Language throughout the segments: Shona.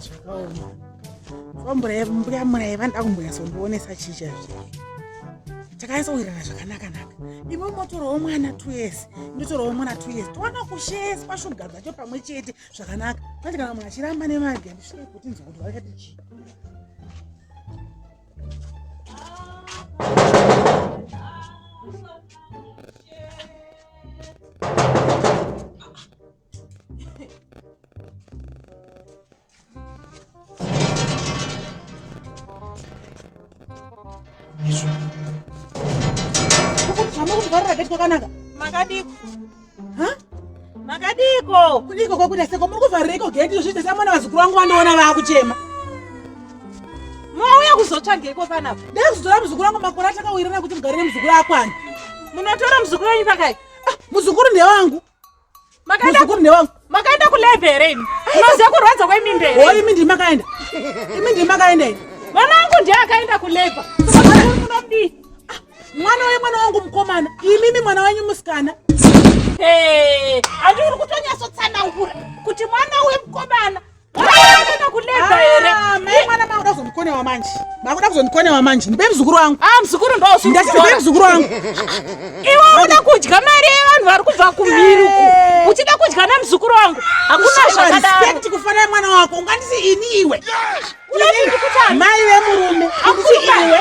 zvakaoma mbuya murai vanoda kumbonyatsondionesa chii chaizvo takanyatsowirirana zvakanaka naka imo motorawo mwana two years ndotorawo mwana two years towana kusheswa shuga dzacho pamwe chete zvakanaka manje kana munhu achiramba nemage ndisvike kuti nzwa kuti vakati chii zvakanaka makadiko makadiko kudiko kwakuda seko muri kuvharireko geti zviita samwana vazukuru vangu vandiona vaakuchema mauya kuzotsvageiko panapa ndekuzotora muzukuru wangu makore atakawirirana kuti mugare nemuzukuru akwani munotora muzukuru wenyu pakai ah, muzukuru ndewangu muzukuru ndewangu makaenda kulebhe here imi unoziva kurwadza kwemimbe here o imi ndii makaenda imi ndii makaenda ini mwana wangu ndiye akaenda kulebha munodii ah, mwana uye mwana wangu mukomana imimi mwana wenyu musikana handi uri kutonyasotsanangura kuti mwana uye mukomana kuzondikonewa manje makuda kuzondikonewa manje ndipe mzukuru wangu ah, mzukuru ndosndipe mzukuru wangu iwe uda kudya mari yevanhu vari kubva kumhiri uku uchida kudya nemzukuru wangu hakuna zvakadaroekti kufanira mwana wako ungandisi ini iwe mai vemurume akuti iwe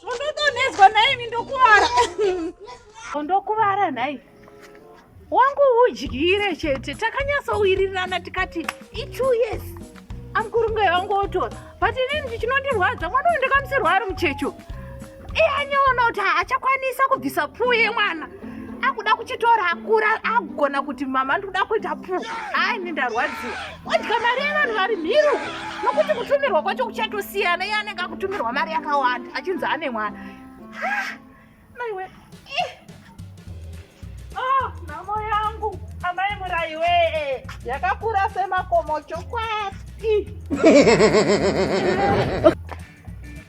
zvondodonhedzwa nhaimi ndokuvara ondokuvara nhai wangu udyire chete takanyatsowirirana tikati itwo years amkurungai wangu otora but inini ndichinondirwadza mwana uyu ndakamisirwa ari muchecho iye anyoona kuti haachakwanisa kubvisa puu yemwana akuda kuchitora akura agona kuti mama ndikuda kuita puu hayi ni ndarwadziwa odya mari yevanhu vari mhiru nokuti kutumirwa kwacho kuchatosiyana iye anenge akutumirwa mari yakawanda achinzi ane mwana maiwe eh. oh, nhamo yangu amai muraiwe yakakura semakomo chokwati